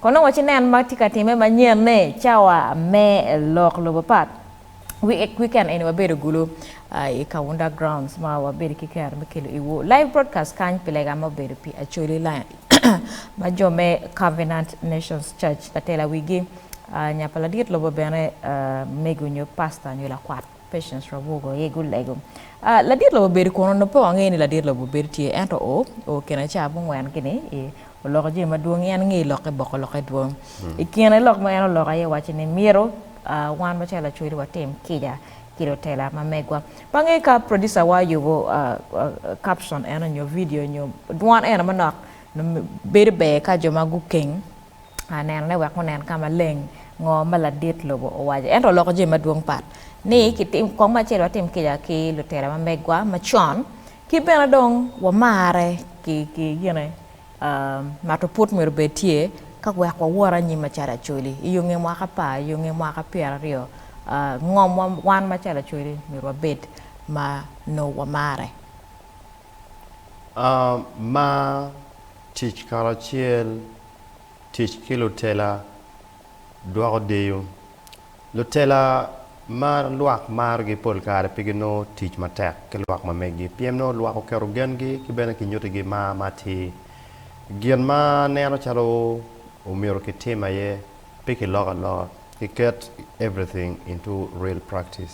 Kono waci nen ma tye ka timme manyen ni cawa me lok lobo pat weekend eni wabedo gulu i Kaunda Grounds ma wabedo ki kero me kelo iwu live broadcast kany pi lega ma obedo pi Acholi Lions ma jo me Covenant Nations Church ka tela wigi nyapa ladit lobo bene mego nyo pastor nyo lakwat Patience Rwabugo aye gulego. Ah, ladit lobo bedo kunu? Nongo pe wangeyo ni ladit lobo bedo tye, ento o, o kine ca mungwen gini, i, oloko jami madwong, en ngeyo lokke boko lokke dwong. I kine lok ma en oloko aye wacci ni myero, ah, wan macalo lacwec watim kica ki lutela ma megwa. Pe angeyo ka producer wa oyubo, ah, ah, caption eno nyo video nyo dwan eno manok, nongo bedo ber ka jo ma gukeng anenone wek wunen ka maleng ngo ma ladit lobo owaco. Ento oloko jami madwong pat ni kitim kong acel watim kica ki lutela ma megwa macon ki bene dong wamarre ki ki gine mato put myero obed tye ka wek wawot anyim macalo Acholi i yo nge mwaka pa i yo nge mwaka pyera aryo ngom wa wan macalo Acholi myero wabed ma nongo wamarre. A Mar tic karacel, Tic ki lutela dwoko deyo. Lutela ma lwak marogi pol kare pe ginongo tic matek ki lwak ma meggi pien nongo lwak oketo gengi ki bene kinyutigi mar ma atir. Gin ma aneno calo omyero kitim aye pe kiloko aloka, kiket everything into real practice.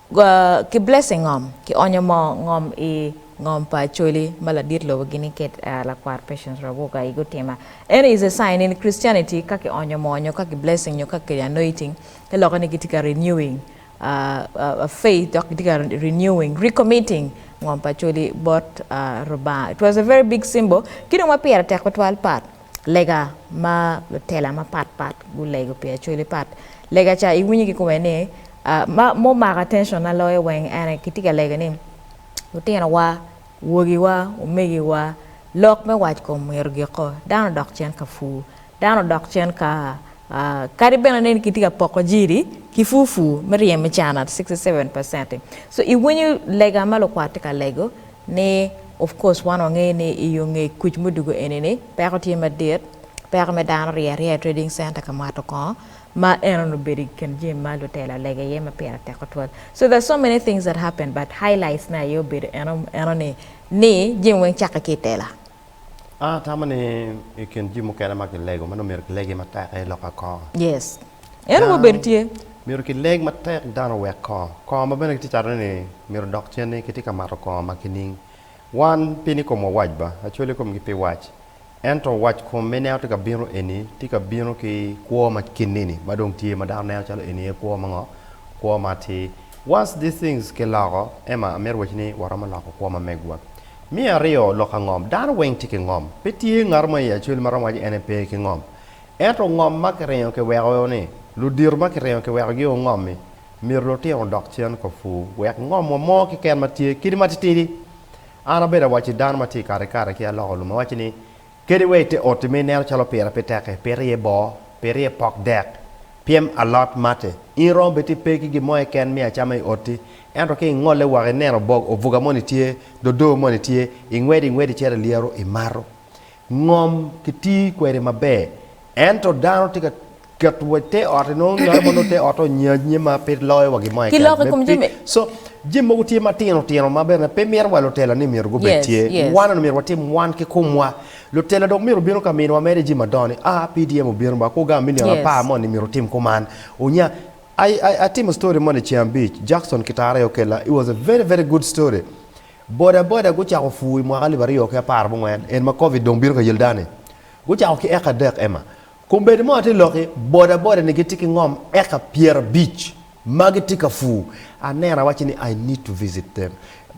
Ki blessing ngom ki onyo mo ngom i ngom pa Acholi ma ladit lobo gini ket lakwat Patience Rawoga i gutima eni is a sign in Christianity ka ki onyo mo nyo ka ki blessing nyo ka ki anoiting te loke ni gitye ka renewing faith dok gitye ka renewing, recommitting ngom pa Acholi bot Lubanga it was a very big symbol ki dong ma pire tek tutwal but. Lega ma lutela mapat pat gulego pi Acholi pat lega ca iwinyo ki kome ni ma omako attention na loyo weng en aye kitye ka lego ni lutino wa wogi wa omege wa lok me wac kom myero ogiko dano odok cen ka pur dano odok cen ka kadi bene ni kitye ka poko jiri ki pur pur me ryemo i can at sixty seven percent so iwinyo lega ma lukwat tye ka lego Ni, Of course wan wangeyo ni i onge kuc mudugo eni ni peko tye madit, peko me dano rye aryea i trading center ka mwato kongo ma en onongo obedo i kin jami ma lutela olego iye ma pire tek tutwal. So there's so many things that happened but highlights ne aye obedo eno eno ni ni jami weng cakke ki i tela. An atamo ni i kin jami mukene ma kilego ma nongo myero kilegi matek aye lokke kor. Yes. En aye obedo tye. Myero kileg matek dano owek kor. Kor ma bene kitye cato ni myero odok cen ni kitye ka mato kor ma kining. Wan pi ni komwa wac ba, acwali komgi pi wac. Ento wac kom ma ineno tye ka bino eni tye ka bino ki kwo ma kinni ni ma dong tye ma dano neno calo eni aye kwo ma ngo? Kwo ma atir. Once these things kiloko, Emma amito waci ni waromo loko kwo ma megwa. Me aryo, lok angom. Dano weng tye ki ngom. Pe tye ngato mo i Acwel ma romo waco ene pe ki ngom. Ento ngom ma kiringo kiweko ni, ludito ma kiringo kiweko gi ongomi, myero lutino odok cen ka pur wek ngom wa mo kiken ma tye kidi matitidi. An abedo awacci dano ma tye i kare kare ki aloko lum awaci ni Kadi wa i te oti ma ineno calo pire pe tek-ki, pire iye bor, pire iye pok dek, pyem alot, matte, in iromo bene ti pe ki gin mo keken miyo acama i oti. Ento ka ingolle woko ineno obog obuga moni tye, dodo moni tye, ingwedo ingwedo icito i lyeru imato. Ngom kiti kwede maber, ento dano tye ka. Ket wa i te ot i nongo ngat mo nongo te otte onyaj nye ma pe loyo wa gin mo Ki lok i kom jami. keken. So jami mogo tye ma tino tino ma bene pe mito wa lutela ni myero gubed Yes, tye. yes. Wan myero watim wan ki komwa. Lutela dong myero obino ka miniwa mere jami madongo ni ah PDM obino ba ko gang me nino Yes. apar moni myero otim kuman. Onya I, I, atimo story moni ceng abic Jackson Kitare okella it was a very very good story. Boda boda gucako pur i mwaka alip aryo ki apar mungwen en ma covid dong bino ka yel dano ni. Gucako ki eka adek Emma. Kombeddi mo atye loki, bodaboda ni gitye ki ngom eka pyerabic ma gitye ka pur, aneno awacci ni I need to visit them.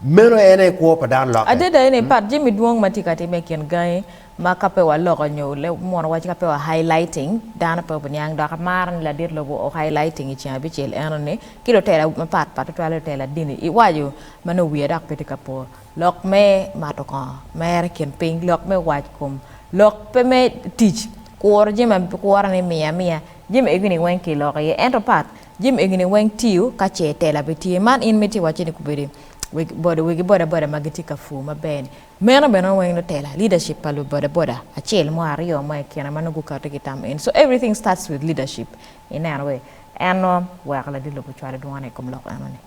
Meno en aye i kwo pa dano lokke. Adada eni part jami dwong ma tye ka timme i kin gangi ma ka pe waloko nyo mono wacci ka pe wa highlighting dano pe obiniang dok amaro ni ladit lobo o highlighting i ceng abicel eno ni ki lutela mapat pat tutwale lutela dini iwaco ma nongo wiya dok pe tye ka po Lok me mato kongo, Mer i kin piny, lok me wac kom, lok pe me tic, kuro jami ma kuro ni miya amiya, jami egi ni weng ki loko iye ento pat jami egi ni weng tiyo ka ce tela pe tye. Man in miti iwacce ni gubedo wegi boda wegi boda boda ma gitye ka pur maber ni meno bene nongo weng nongo tela leadership pa lu boda boda acel mo aryo mo i kine ma nongo gukato ki tam eni. So everything starts with leadership ineno wei en nongo weko ladit lobo cwalo dwone i kom lok eno ni.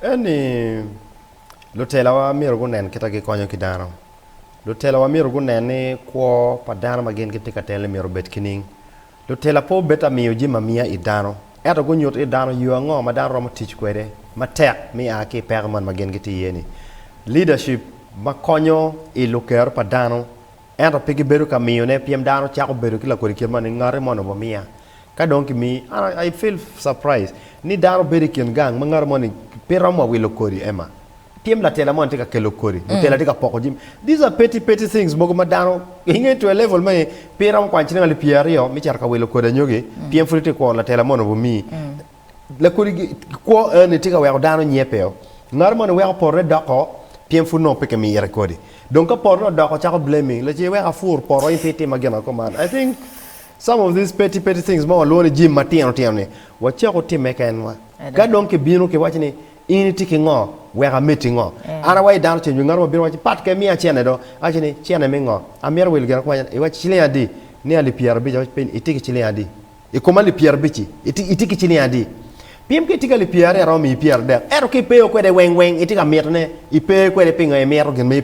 En ni, lutelawa myero gunen kit ma gikonyo ki dano. Lutelawa myero gunen ni kwo pa dano ma gin gitye ka telo-ni myero obed ki ning. Lutela pe obed ta miyo jami amiya i dano, ento gunyut ki i dano yo ango ma dano romo tic kwede matek me a ki i peko man ma gin gitye iye-ni. Leadership ma konyo i luker pa dano Ento pe gibedo ka miyone pien dano cako bedo ki lakodi kit man ni ngati moni omiya ka dong kimiyi and I feel surprised ni dano bedo ikin gang ma ngati moni pe romo wa wilo kodi Emma pien latela moni tye ka kelo kodi, mutela tye ka poko jami these are petty petty things mogo ma dano inge to a level ma pe iromo kwano ciling alip pyeraryo me cito ka wilo kodi anyogi pien pud itye ka kwo latela moni omiyi. Lakodi kwo eni tye ka weko dano nyepeo. Ngat moni weko potone doko pien pud nongo pe kimire kodi. Dong ka potone odoko cako blaming, la ce wek afur poto in pe itima gin ango man. I think some of these petty petty things ma walwongo ni jami matino tino ni wacak watimme kenwa. Ka dong kibino kiwaci ni in itye ki ngo wek ameddi ngo. An awaco dano cen, nyo ngat mo bino waci pat ka imiya cene do. Awaci ni cene me ngo? Amito wilo gin ango? Iwaco ciling adi? Nia alip pyerabic, awaco pe, itye ki ciling adi? I kom alip pyerabic-ci, itye ki ciling adi? Piem ka itye ki alip pyeraryo, aromo miyi pyeradek. Ento ka ipeyo kwede weng weng, itye ka mitone, ipe kwede pingo imito gin ma ipe.